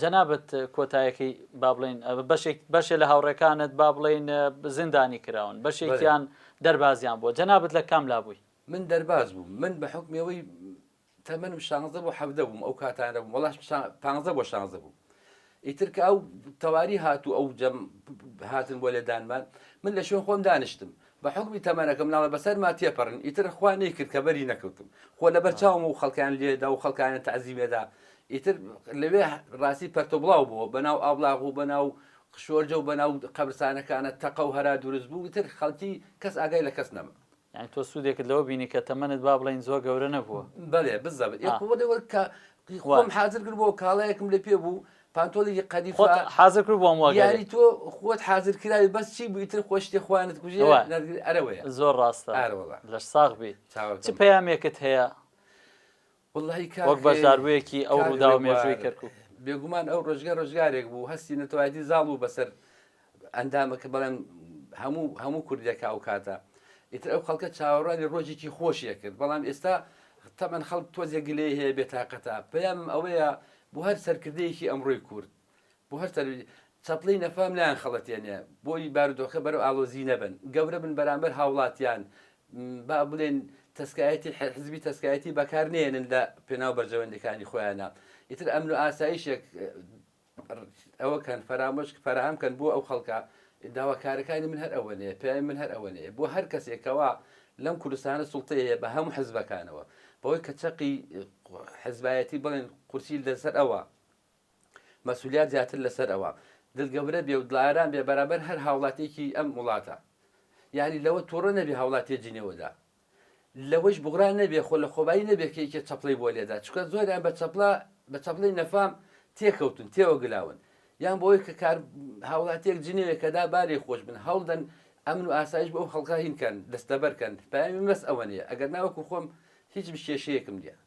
جەنابت کۆتایەکەی با بڵێین بەشێک بەشێ لە هاوڕێکانت با بڵێین زیندانی کراون بەشێکیان دەربازیان بووە جەنابت لە کام لا بووی؟ من دەرباز بووم من بە حوکمی ئەوەی تەمەنم شانزدە بۆ حەڤدە بووم ئەو کاتانە بووم وەڵا پانزدە بۆ شانزدە بووم ئیتر کە ئەو تەواری هات و ئەو جەم هاتن بۆ لێدانمان من لە شوێن خۆم دانیشتم بە حوکمی تەمەنەکە مناڵە بەسەرما تێپەرن ئیتر خوا نەیکرد کە بەری نەکەوتم خۆ لەبەر چاوم و خەڵکیان لێدا و خەڵکانیان تەعزیمێدا ئیتر لەوێ ڕاستی پەرتۆ بڵاو بووە بەناو ئابڵاغ و بەناو شۆرجە و بەناو قەبرسانەکانە تەقە و هەرا دروست بوو ئیتر خەڵکی کەس ئاگای لە کەس نەما. یانی تۆ سوودێکت لەوە بینی کە تەمەنت با بڵێین زۆر گەورە نەبووە. بەلێ بزەبت ئێ خۆ لەوە کە خۆم حازر کرد بۆ کاڵایەکم لە پێ بوو پانتۆڵێکی قەدیفە خۆت حازر کرد بۆم وەگەرێ. یاری تۆ خۆت حازر کراوی بەس چی بوو ئیتر خۆ شتێ خوا نەتکوژێ ئەوە. نەتگری ئەرە وەیە زۆر ڕاستە ئارە وەڵا لەش ساغ بی چ چاوەکەم پەیامێکت هەیە وەڵڵاهی کاک وەک بەشداربوویەکی ئەو کاک ڕووداو مێژووی هەرێوار. کەرکوک؟ بێگومان ئەو ڕۆژگە ڕۆژگارێک بوو هەستی نەتەوایەتی زاڵ بوو بەسەر ئەندامەکە بەڵێن هەموو هەموو کوردێکە ئەو کاتە ئیتر ئەو خەڵکە چاوەڕوانی ڕۆژێکی خۆشیە کرد بەڵام ئێستا تەمەەن خەڵک تۆزێک گلەی هەیە بێتاقەتە پێم ئەوەیە بۆ هەر سەرکردەیەکی ئەمڕۆی کورد بۆ هەر سەر چەپڵی نەفام لایەن خەڵەتێنێ بۆی بارودۆخە بەرەو ئالۆزی نەبن گەورە بن بەرامبەر هاوڵاتیان با بڵێن تەسکایەتی حزبی تەسکایەتی بەکار نێنن لە پێناو بەرژەوەندەکانی خۆیانە ئیتر ئەمن و ئاسایشێک ئەوەکەن فەرامۆش فەراهەم کەن بۆ ئەو خەڵکە داواکارەکانی من هەر ئەوەنەیە پێیان من هەر ئەوەنەیە بۆ هەر کەسێکەوە لەم کوردستانە سڵتەیە هەیە بە هەموو حزبەکانەوە بەوەی کە چەقی حزبایەتی بڵێن قورسی لەسەر ئەوە مەسولیات زیاتر لەسەر ئەوە دڵگەورە بێ و دڵاران بێ بەرامبەر هەر هاوڵاتێکی ئەم وڵاتە یعنی لەوە تووڕە نەبی هاوڵاتی جنێوەدا لەوەیش بوغرا نەبێ خۆ لەخۆبایی نەبێ کە یەکێ چەپڵەی بۆ لێدا چونکە زۆریان بە چەپڵە بە چەپڵەی نەفام تێکەوتون تێوە گلاون یان بۆ ئەوەی کە کار هاوڵاتیەک جنێوێ کە دا با لێخۆش بن هەوڵدەن ئەمن و ئاسایش بۆ ئەو خەڵکە هین کەن دەستەبەر کەن پەیامی من بەس ئەوەنەیە ئەگەر نا وەکو خۆم هیچ کێشەیەکم نیە.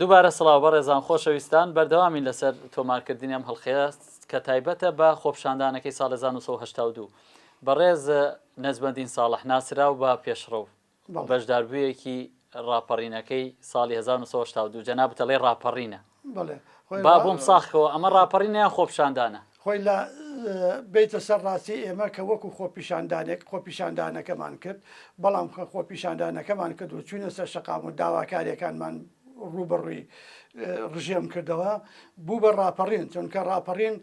دووبارە سڵاو بەڕێزان خۆشەویستان بەردەوامین لەسەر تۆمارکردنی ئەم هەڵخەیە کە تایبەتە بە خۆپشاندانەکەی ساڵ 1970 بەڕێز نەزمەدین ساڵح ناسراو بە پێشڕەو بەشداربوویەکی ڕاپەڕینەکەی ساڵی 1970 جەنابتەڵێ ڕاپەڕینە با بۆم ساخەوە ئەمە ڕاپەڕینیان خۆپشاندانە خۆی لا بێیتە سەر ڕاستی ئێمە کە وەکو خۆپیشاندانێک خۆپیشاندانەکەمان کرد بەڵام خە خۆپیشاندانەکەمان کرد و چوینە سەر شەقام و داواکاریەکانمان ڕوبەڕوی ڕژێم کردەوە بوو بە ڕاپەڕین چونکە ڕاپەڕین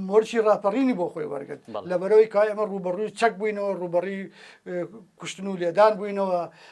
مۆرچی ڕاپەڕینی بۆ خۆی وەرگرت لەبەرەوەی کا ئێمە ڕوبەڕوی چەک بووینەوە ڕوبەڕی کوشتن و لێدان بووینەوە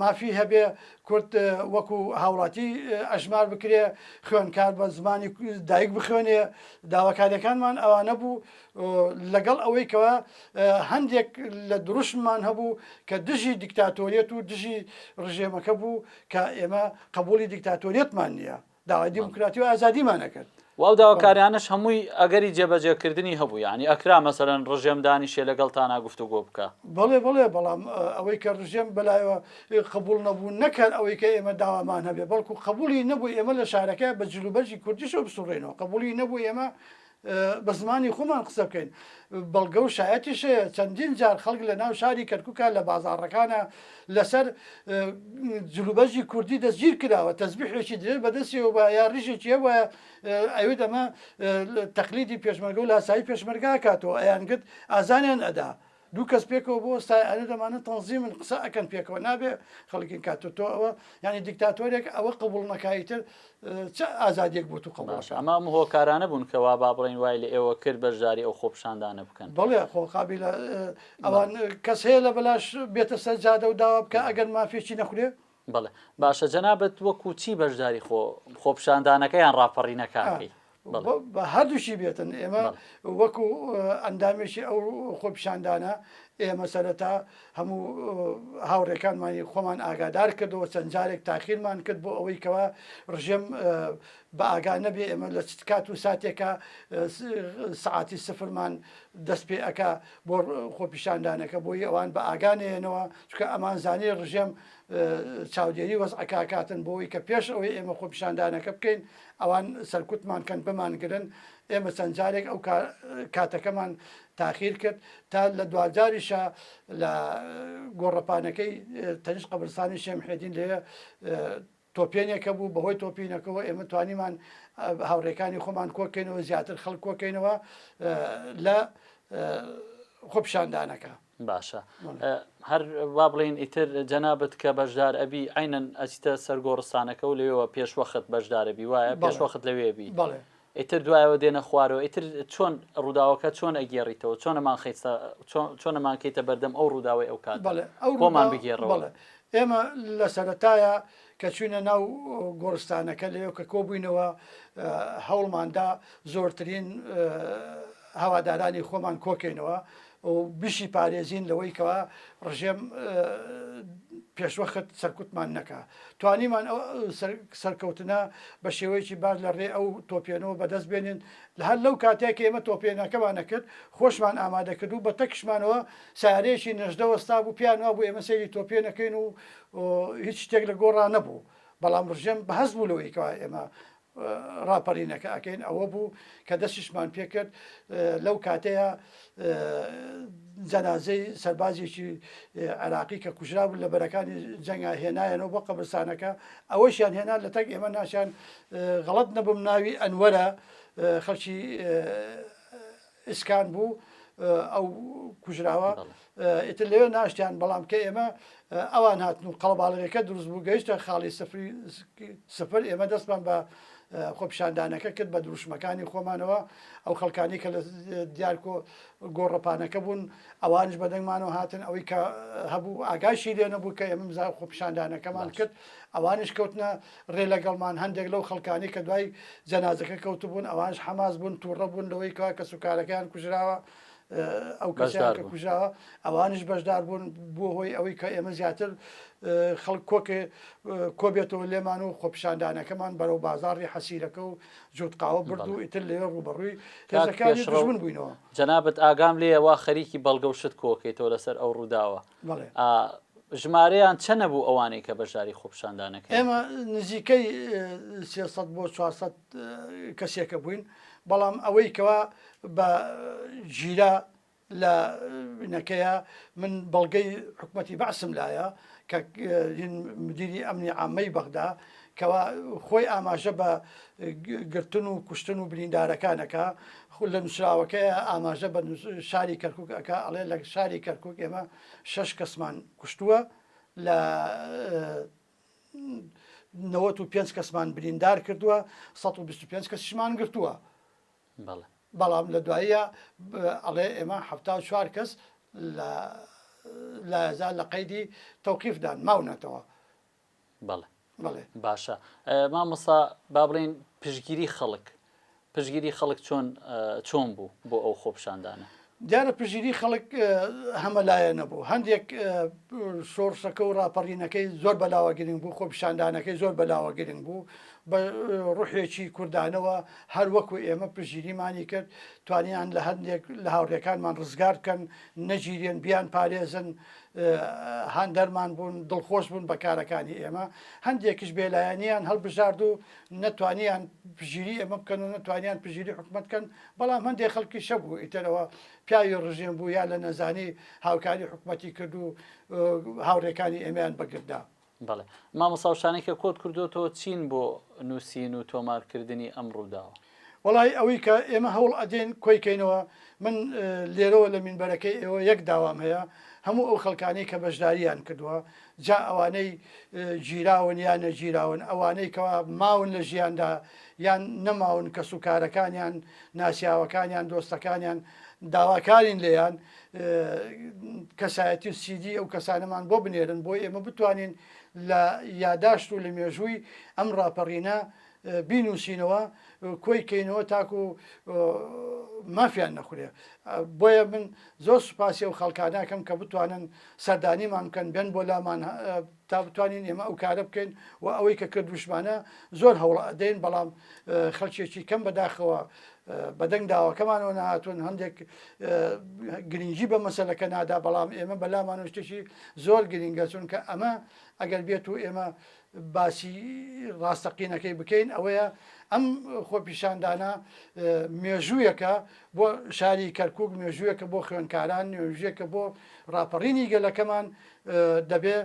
مافی هەبێ کورد وەکو هاوڵاتی ئەژمار بکرێ خوێنکار بە زمانی دایک بخوێنێ داواکاریەکانمان ئەوانە بوو لەگەڵ ئەوەی کەەوە هەندێک لە دروشممان هەبوو کە دژی دیکتاتۆریەت و دژی ڕژێمەکە بوو کە ئێمە قبولی دیکتاتۆریەتمان نییە داوای دیموکراتی و ئازادیمان ئەکرد. و ئەو داواکاریانەش هەمووی ئەگەری جێبەجێکردنی هەبوو، یانی ئەکرا مەسەلەن ڕژێم دانیشێ لەگەڵ تانا گفتوگۆ بکا. بەڵێ بەڵێ، بەڵام ئەوەی کە ڕژێم بەلایەوە قبووڵ نەبوو، نەک هەر ئەوەی کە ئێمە داوامان هەبێ، بەڵکوو قبووڵی نەبوو ئێمە لە شارەکە بە جلوبەرگی کوردیشەوە بسووڕێینەوە، قبووڵی نەبوو ئێمە بە زمانی خۆمان قسە بکەین. بەڵگە و شایەتیش هەیە، چەندین جار خەڵک لە ناو شاری کەرکووکا لە بازاڕەکانا لەسەر جلوبەرگی کوردی دەستگیر کراوە، تەزبیحێکی درێژ بە دەستی هەبوایە یا ڕیشێکی هەبوایە ئەیوت ئەمە تەقلیدی پێشمەرگە و لاسایی پێشمەرگە ئەکاتەوە، ئەیانگوت ئازاریان ئەدا. دوو کەس پێکەوە بۆ ئەستای ئەرێ دەمانە تەنزیمن قسە ئەکەن پێکەوە نابێ خەڵکین کات تۆ ئەوە یعنی دیکتاتۆرێک ئەوە قبول نەکایتر چ ئازادیەک بۆ تو قەڵاش ئەما هۆکارانە بوون کەوا با بڵین وای لە ئێوە کرد بەشداری ئەو خۆپشاندانە بکەن بڵێ خۆقابی لە ئەوان کەس هەیە لە بەلاش بێتە سەر جادە و داوا بکە ئەگەر مافێکی نەخورێ بەڵێ باشە جەنابت وەکو چی بەشداری خۆ خۆپشاندانەکە یان ڕاپەڕینەکانکەی؟ هەردووشی بێتن ئێمە وەکو ئەندامێکی ئەو خۆپشاندانە ئێمە سەرەتا هەموو هاوڕێکانمانی خۆمان ئاگادار کردەوە چەند جارێک تاخیرمان کرد بۆ ئەوەی کەوا ڕژێم بە ئاگا نەبێ ئێمە لە کات و ساتێکە سعاتی سفرمان دەست پێ ئەک بۆ خۆپیشاندانەکە بۆی ئەوان بە ئاگانێنەوە چکە ئەمان زانانی ڕژێم چاودێری وەزعەکە ئەکاتن بۆ ئەوەی کە پێش ئەوەی ئێمە خۆپیشاندانەکە بکەین ئەوان سەرکوتمان کەن بمانگرن ئێمە چەند جارێک ئەو کاتەکەمان تاخیر کرد تا لە دوجاریشە لە گۆڕەپانەکەی تەنیش قبرستانی شێمحێدین لێ تۆپێنێکە بوو، بەهۆی تۆپینەکەوە ئێمە توانیمان هاوڕێکانی خۆمان کۆکەینەوە زیاتر خەڵک کۆکەینەوە لە خۆپشاندانەکە. باشە هەر وا بڵین ئیتر جەنابەت کە بەشدار ئەبی ئەینەن ئەچتە سەرگۆڕستانەکە و لەوێەوە پێشوەخت بەشدارەبی وایە پێشوەخت لەوێبی بەڵێ ئیتر دوایەوە دێنە خوارەوە ئیتر چۆن ڕووداوەکە چۆن ئەگێڕیتەوە چۆن ئەمانخەیتە چۆن ئەمانکەیتە بەردەم ئەو ڕووداوەی ئەو کات بۆمان بگێڕەوە ئێمە لە سەرەتایە کە چوینە ناو گۆڕستانەکە لەوێ کە کۆبووینەوە هەوڵماندا زۆرترین هەوادارانی خۆمان کۆکەینەوە و بشی پارێزین لەوەی کەوا ڕژێم پێشوەخت سەرکوتمان نەکا توانیمان ئەو سەرکەوتنە بە شێوەیەکی باش لە ڕێ ئەو تۆپێنەوە بەدەست بێنین لە هەر لەو کاتێک کە ئێمە تۆپێنەکەمانە کرد خۆشمان ئامادە کرد و بە تەکشمانەوە سارێکی نەژدە وەستا بوو پیان وا بوو ئێمە سەیری تۆپێنەکەین و هیچ شتێک لە گۆڕا نەبوو بەڵام ڕژێم بەهەست بوو لەوەی کەوا ئێمە ڕاپەڕینەکە ئەکەین ئەوە بوو کە دەستیشمان پێکرد لەو کاتەیە جەنازەی سەربازێکی عێراقی کە کوژرا بوو لە بەرەکانی جەنگا هێنایەنەوە بۆ قەبرستانەکە ئەوەشیان هێنا لە تەک ئێمە ناشیان غەڵت نەبم ناوی ئەنوەرە خەڵکی ئیسکان بوو ئەو کوژراوە ئیتر لەوێ ناشتیان بەڵام کە ئێمە ئەوان هاتن و قەڵباڵەکە دروست بوو گەیشتە خاڵی سفری سفر ئێمە دەستمان بە خۆپیشاندانەکە کرد بە دروشمەکانی خۆمانەوە ئەو خەڵکانی کە لە دیارکۆ گۆڕەپانەکە بوون ئەوانش بەدەنگمانەوە هاتن ئەوەی کە هەبوو ئاگاشی لێ نەبوو کە ئێمە خۆپیشاندانەکەمان کرد ئەوانش کەوتنە رێ لەگەڵمان، هەندێک لەو خەڵکانەی کە دوای جەنازەکە کەوتبوون ئەوانش حەماس بوون، تووڕە بوون لەوەی کەوا کەسوکارەکەیان کوژراوە، ئەو کەسەیان کە کوژراوە ئەوانش بەشدار بوون، بووە هۆی ئەوەی کە ئێمە زیاتر خەڵک کۆکێ کۆبێتەوە لێمان و خۆپیشاندانەکەمان بەرەو بازاڕی حەسیرەکە و جووتقاوە برد و ئیتر لەوێ ڕووبەڕووی هێزەکانی دژمن بووینەوە. جەنابت ئاگام لێیەوا خەریکی بەڵگە و شت کۆکەیتەوە لەسەر ئەو ڕووداوە. ژمارەیان چەنە بوو ئەوانەی کە بەشداری خۆپشاندانەکە ئێمە نزیکەی بۆ کەسێکە بووین بەڵام ئەوەی کەوا بە ژیرا لە نەکەیە من بەڵگەی حکوومەتتی بەعسم لایە کە مدیری ئەمنی ئامەی بەغدا کەوا خۆی ئاماژە بە گرتن و کوشتن و بریندارەکان ئەکا خو لە نووسراوەکەی ئاماژە بە شاری کەرکک ئەکا ئەڵێ لە شاری کەرکک ئێمە شەش کەسمان کوشتووە لە نەوەت و پێنج کەسمان بریندار کردووە 125 کەسیشمان گرتووە بەڵام لە دواییە ئەڵێ ئێمە ه چوار کەس لە لازان لە قەیدی تەوقیفدان ماونەتەوە بەڵێ بەڵێ باشە مامۆسا با بڵێن پشگیری خەڵک پشگیری خەڵک چۆن چۆن بوو بۆ ئەو خۆپشاندانە دیارە پژیری خەڵک هەمەلایە نەبوو هەندێک شۆڕشەکە و راپەڕینەکەی زۆر بەلاوە گرنگ بوو خۆپشاندانەکەی زۆر بەلاوە گرنگ بوو بە ڕوحێکی کوردانەوە هەر وەکو ئێمە پژیریمانی کرد توانیان لە هەندێک لە هاوڕێکانمان ڕزگار بکەن نەگیرێن بیان پارێزن هاندەرمان بوون، دڵخۆش بوون بە کارەکانی ئێمە، هەندێکیش بێلایەنیان هەڵبژارد و نەتوانیان پژیری ئێمە بکەن و نەتوانیان پژیری حکومەت بکەن، بەڵام هەندێک خەڵکیش هەبوو ئیترەوە پیاوی ڕژێم بوو یا لە نەزانی هاوکاری حکومەتی کرد و هاوڕێکانی ئێمەیان بە گرت دا. بەڵێ مامۆستا و شتانەی کە کۆت کردۆتەوە چین بۆ نوسین و تۆمار کردنی ئەم ڕوداوە؟ وەڵایی ئەوەی کە ئێمە هەوڵ ئەدەین کۆی کەینەوە من لێرەوە لە مینبەرەکەی ئێوە یەک داوام هەیە هەموو ئەو خەڵکانەی کە بەشداریان کردوە جا ئەوانەی گیراون یا نەگیراون ئەوانەی کەوا ماون لە ژیاندا یان نەماون کەسوکارەکانیان ناسیاوەکانیان دۆستەکانیان داواکارین لێیان کەسایەتی و سیدی ئەو کەسانەمان بۆ بنێرن بۆ ئێمە بتوانین لە یاداشت و لە مێژووی ئەم ڕاپەڕینە بینوسینەوە کۆی کەینەوە تاکو مافیان نەخورێ بۆیە من زۆر سوپاسی و خەڵکاناکەم کە بتوانن سەردانیمان بکەن بێن بۆ لامان تا بتوانین ئێمە ئەو کارە بکەین و ئەوەی کە کردوشمانە زۆر هەوڵ ئەدەین بەڵام خەلکێکی کەم بەداخەوە بەدەنگ داواکەمانەوە نهاتون هەندێک گرنگی بە مەسلەکە نادا بەڵام ئێمە بەلامان شتێکی زۆر گرنگە چونکە ئەمە ئەگەر بێت و ئێمە باسی ڕاستەقینەکەی بکەین ئەوەیە ئەم خۆپیشاندانە مێژوویەکە بۆ شاری کەرکک مێژوویەکە بۆ خوێنکاران نوێژێکە بۆ ڕاپەڕینی گەلەکەمان دەبێ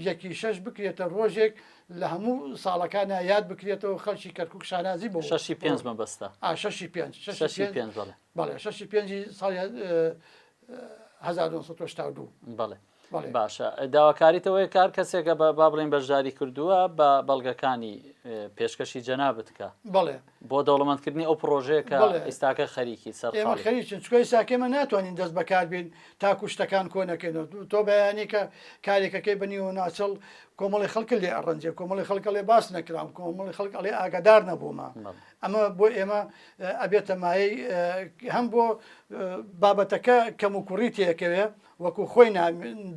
یەکی شەش بکرێتە ڕۆژێک لە هەموو ساڵەکانە یاد بکرێتەوە خەڵکی کەرکک شانازی بۆ شەشی پێنج مەبەستە شەشی پێنج شەشی پێنج بەڵێ شەشی پێنجی ساڵ 1992 بەڵێ باشە داواکاریتەوەی کار کەسێکە بە با بڵین بەشداری کردووە بە بەڵگەکانی پێشکەشی جەنا بتکە بڵێ بۆ دەوڵەمەندکردنی ئەو پڕۆژەیە کە ئیستاکە خەریکی سەرقاڵی. ئێمە خەریکین چونکە ئیستاکە ئێمە ناتوانین دەست بە کار بین تاکوو شتەکان کۆ نەکەینەوە. تۆ بەیانی کە کارێکەکەی بە نیوەناچڵ کۆمەڵی خەڵکت لێ ئەڕەنجێ، کۆمەڵی خەڵک ئەڵێ باس نەکرام، کۆمەڵی خەڵک ئەڵێ ئاگادار نەبوومە. ئەمە بۆ ئێمە ئەبێتە مایەی هەم بۆ بابەتەکە کەموکوڕی تێکەوێ وەکوو خۆی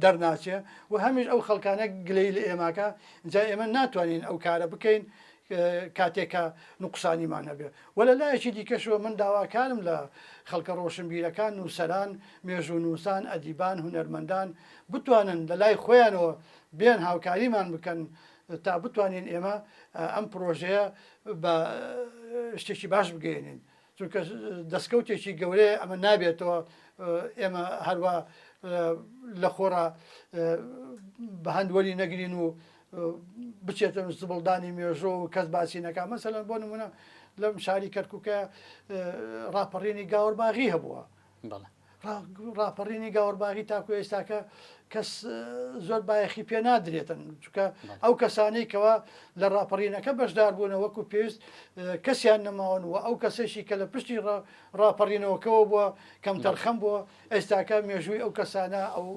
دەرناچێ و هەمیش ئەو خەڵکانە گلەیی لە ئێماکە، ئینجا ئێمە ناتوانین ئەو کارە بکەین کاتێک کە نوقسانیمان هەبێت و لە لایەکی دیکەشەوە من داواکارم لە خەڵکە ڕۆشنبیرەکان، نووسەران، مێژوونووسان، ئەدیبان، هونەرمەندان بتوانن لە لای خۆیانەوە بێن هاوکاریمان بکەن تا بتوانین ئێمە ئەم پرۆژەیە بە شتێکی باش بگەیەنین. چونکە دەستکەوتێکی گەورەیە ئەمە نابێتەوە ئێمە هەروە لە خۆڕا بە هەند وەری نەگرین و بچێتە زبڵدانی مێژۆ و کەس باسی نەکە مەسەلەن بۆ نمونە لەم شاری کەرککە ڕاپەڕینی گاورباغی هەبووە بەڵێ. ڕاپەڕینی گاوەرباغی تاکو ئێستاکە کەس زۆر بایەخی پێ نادرێتن چکە ئەو کەسانەی کەەوە لە ڕاپەڕینەکە بەشدار بوونە وەکو پێویست کەسیان نەماون و ئەو کەسێکی کە لە پشتی ڕاپەڕینەوەکەەوە بووە کەم تەرخەم بووە ئێستاکە مێژووی ئەو کەسانە ئەو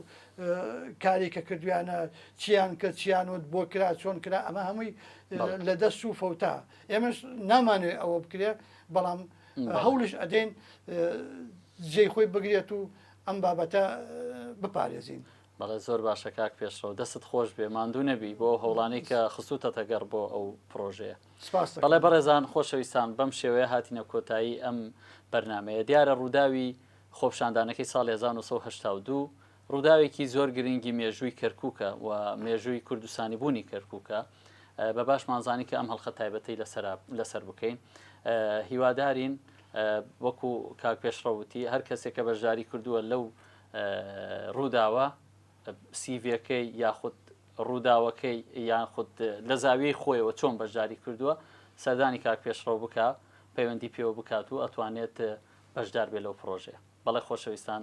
کاری کە کردویانە چیان کە چیان وت بۆ کرا چۆن کرا ئەمە هەمووی لە دەست و فەوتا ئێمەش نامانێ ئەوە بکرێ بەڵام هەوڵیش ئەدەین جێی خۆی بگرێت و ئەم بابەتە بپارێزین. بەڵێ زۆر باشە کاک پێشڕەوە دەست خۆش بێ ماندوو نەبی بۆ هەوڵانی کە خستوتە تەگەڕ بۆ ئەو پرۆژەیە بەڵێ بەڕێزان خۆشەویستان بەم شێوەیە هاتینە کۆتایی ئەم بەرنمەیە دیارە ڕووداوی خۆپشاندانەکەی ساڵ 1992 ڕووداوێکی زۆر گرنگی مێژووی کەرکووکە و مێژووی کوردستانیبوونی کەرکووکە، بە باشمان زانی کە ئەم هەڵخە تایبەتەی لەسەرە لەسەر بکەین. هیوادارین وەکو کاک پێشڕەو وتی هەر کەسێک کە بەشداری کردووە لەو ڕووداوە سیڤەکەی یاخود ڕووداوەکەی یان خود لە زاویەی خۆیەوە چۆن بەشداری کردووە سەردانی کاک پێشڕەو بکە پەیوەندی پێوە بکات و ئەتوانێت بەشدار بێ لەو پرۆژێ بەڵێ خۆشەویستان